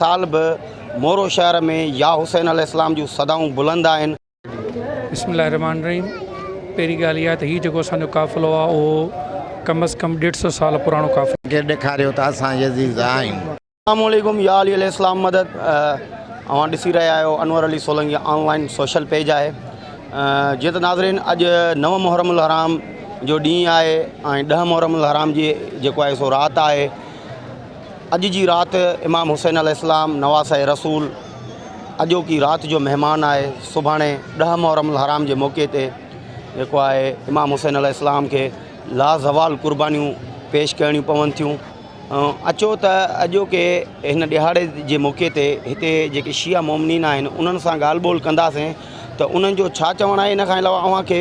سال به مورو شهر ۾ يا حسين عليه السلام جون صدائون بلند آهن. بسم الله الرحمٰن الرحيم پهرين ڳالهه اها ته هي جيڪو اسان جو قافلو آهي اهو ڪم از ڪم ڏيڍ سو سال پراڻو قافلو. کي ڏيکاريو ته اسان يزيد آهيون. اسلام عليڪم يا علي عليه السلام مدد اوهان ڏسي رهيا آهيو Anwar Ali Solangi online social page آهي جيئن ته ناظرين اڄ نو محرم الحرام جو ڏينهن آهي ۽ ڏهه محرم الحرام جي جيڪو آهي سو رات آهي اڄ جي رات امام حسين عليه السلام نواسه رسول اڄوڪي رات جو مهمان آهي سڀاڻي ڏهه محرم الحرام جي موقعي تي جيڪو آهي امام حسين عليه السلام کي لازوال قربانيون پيش ڪرڻيون پون ٿيون اچو ته اڄوڪي هن ڏهاڙي جي موقعي تي هتي جيڪي شيعا مومنين آهن انهن سان ڳالهه ٻولهه ڪنداسين ته انهن جو ڇا چوڻ آهي ان کان علاوه اوهان کي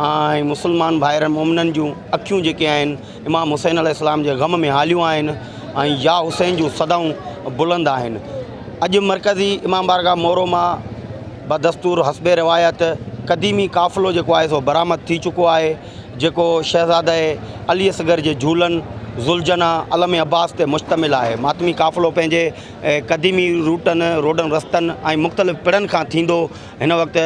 ۽ مسلمان ڀائرن مومنن جون اکيون جيڪي آهن امام حسين عليه السلام جي غم ۾ هاليون آهن ۽ يا حسين جون صدائون بلند آهن اڄ مرڪزي امام بارگاهه مورو مان بدستور حسب روايت قديمي قافلو جيڪو آهي سو برآمد ٿي چڪو آهي جيڪو شهزاده علي اصغر جي جهولن ذوالجنا علم عباس تي مشتمل آهي ماتمي قافلو پنهنجي قديمي روٽن روڊن رستن ۽ مختلف پڙن کان ٿيندو هن وقت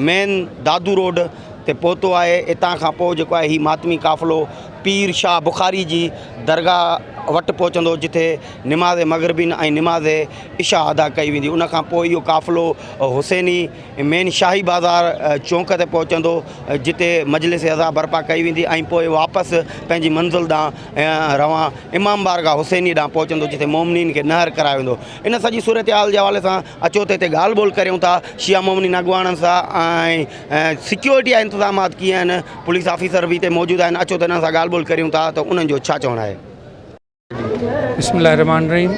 مين دادو روڊ تي پهتو آهي اتان کان پوء جيڪو آهي هي ماتمي قافلو پير شاهه بخاري جي درگاهه وٽ پهچندو جتي نماز مغربين ۽ نماز عشا ادا ڪئي ويندي ان کان پوء اهو قافلو حسيني مين شاهي بازار چونڪ تي پهچندو جتي مجلس عزا برپا ڪئي ويندي ۽ پوء واپس پنهنجي منزل ڏانهن روان امام بارگاهه حسيني ڏانهن پهچندو جتي مومنين کي نهر ڪرايو ويندو ان سڄي صورتحال جي حوالي سان اچو ته هتي ڳالهه ٻولهه ڪريون ٿا شيا مومنين اڳواڻن سان ۽ سيڪيورٽي جا انتظامات ڪيئن آهن پوليس آفيسر به هتي موجود آهن اچو ته انهن سان ڳالهه ٻولهه ڪريون ٿا ته انهن جو ڇا چوڻ آهي. بسم الله الرحمن الرحيم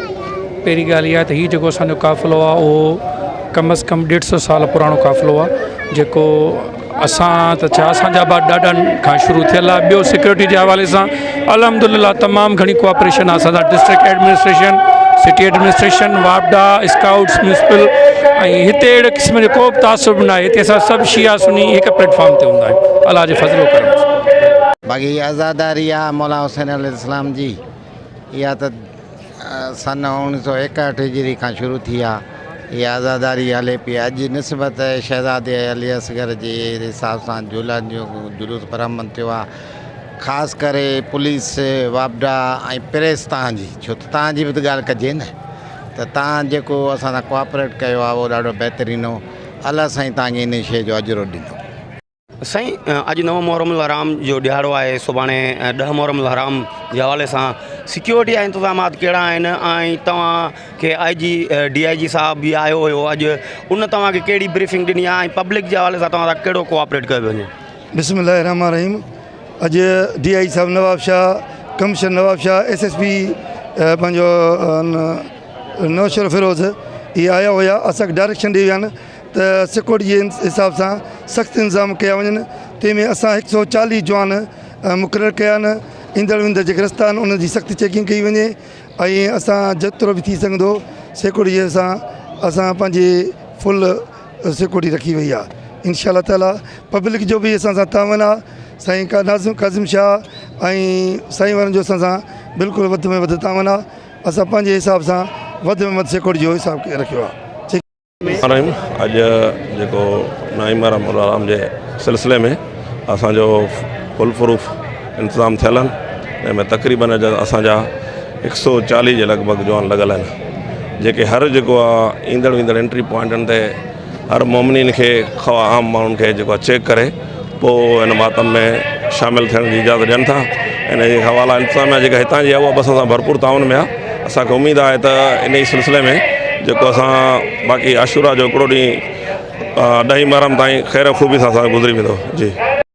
پهرين ڳالهه اها ته هي جيڪو اسانجو قافلو آهي اهو ڪم از ڪم ڏيڍ سو سال پراڻو قافلو آهي جيڪو اسان ته ڇا اسان جا به ڏاڍا کان شروع ٿيل آهي ٻيو سيڪيورٽي جي حوالي سان الحمد لله تمام گھڻي ڪوآپريشن اسان سان ڊسٽرڪٽ ايڊمنسٽريشن سٽي ايڊمنسٽريشن واپڊا اسڪائوٽس ميونسپل ۽ هتي اهڙي قسم جو ڪو به تعصب به ناهي هتي اسان سڀ شيعا سني هڪ پليٽ فارم تي هوندا آهيون الله جي فضل و ڪرم سان باقي هي عزاداري آهي مولا حسين عليه السلام جي اها ته سن اوڻيهه سؤ ايڪهٺ هجري کان شروع ٿي آ هي عزاداري هلي پئي اڄ نسبت شهزادي علي اصغر جي حساب سان جولان جو جلوس برآمد ٿيو آ خاص ڪري پوليس واپڊا ۽ پريس تان جي ڇو ته تان جي به ڳالهه ڪجي نه ته تان جيڪو اسان سان ڪوآپريٽ ڪيو آ اهو ڏاڍو بهترين هو الله سائين تان کي ان شي جو اجرو ڏنو. سائين اڄ نو محرم الحرام جو ڏهاڙو آهي سڀاڻي ڏهه محرم الحرام جي حوالي سان سڪيورٽي جا انتظامات ڪهڙا آهن ۽ توهان کي آء جي ڊي آء جي صاحب بي آيو هيو اڄ ان توهان کي ڪهڙي بريفنگ ڏني آهي ۽ پبلڪ جي حوالي سان توهان سان ڪهڙو ڪوآپريٽ ڪيو پيو وڃي بسم الله الرحمٰن الرحيم اڄ ڊي آء جي صاحب Nawabshah commissioner Nawabshah S S P پنهنجو نوشهر فيروز اهي آيا هيا اسانکي ڊائريڪشن ڏي ويا آهن ته سيڪورٽي جي حساب سان سخت انتظام ڪيا وڃن تنهن ۾ اسان هڪ سؤ چاليهه جوان مقرر ڪيا آهن ايندڙ ويندڙ جيڪي رستا آهن انهن جي سخت چيڪنگ ڪئي وڃي ۽ اسان جيترو به ٿي سگهندو سيڪورٽي جي سان اسان پنهنجي فل سيڪورٽي رکي وئي آهي انشاء الله تعالٰي پبلڪ جو به اسان سان تعاون آهي سائين ڪا ناظم ڪاظم شاهه ۽ سائين وارن جو اسان سان بلڪل وڌ ۾ وڌ تعاون آهي اسان پنهنجي حساب سان وڌ ۾ وڌ سيڪورٽي جو حساب ڪي رکيو آهي رحيم اڄ جيڪو نعيم آرام مولا آرام جي سلسلي ۾ اسان جو فل پروف انتظام ٿيل آهن جنهن ۾ تقريبن اڄ اسان جا هڪ سو چاليهه جي لڳ ڀڳ جوان لڳل آهن جيڪي هر جيڪو ايندڙ ويندڙ انٽري پوائنٽن تي هر مومنين کي خواهه عام ماڻهن کي جيڪو چيڪ ڪري پوء هن ماتم ۾ شامل ٿيڻ جي اجازت ڏين ٿا ان جي حوالي انتظاميا جيڪا هتان جي آهي اها به اسان سان ڀرپور تعاون ۾ آهي اسان کي اميد آهي ته ان جي سلسلي ۾ جيڪو اسان باقي عاشورا جو هڪڙو ڏينهن ڏهين محرم تائين خير خوبي سان اسان جو گذري ويندو جي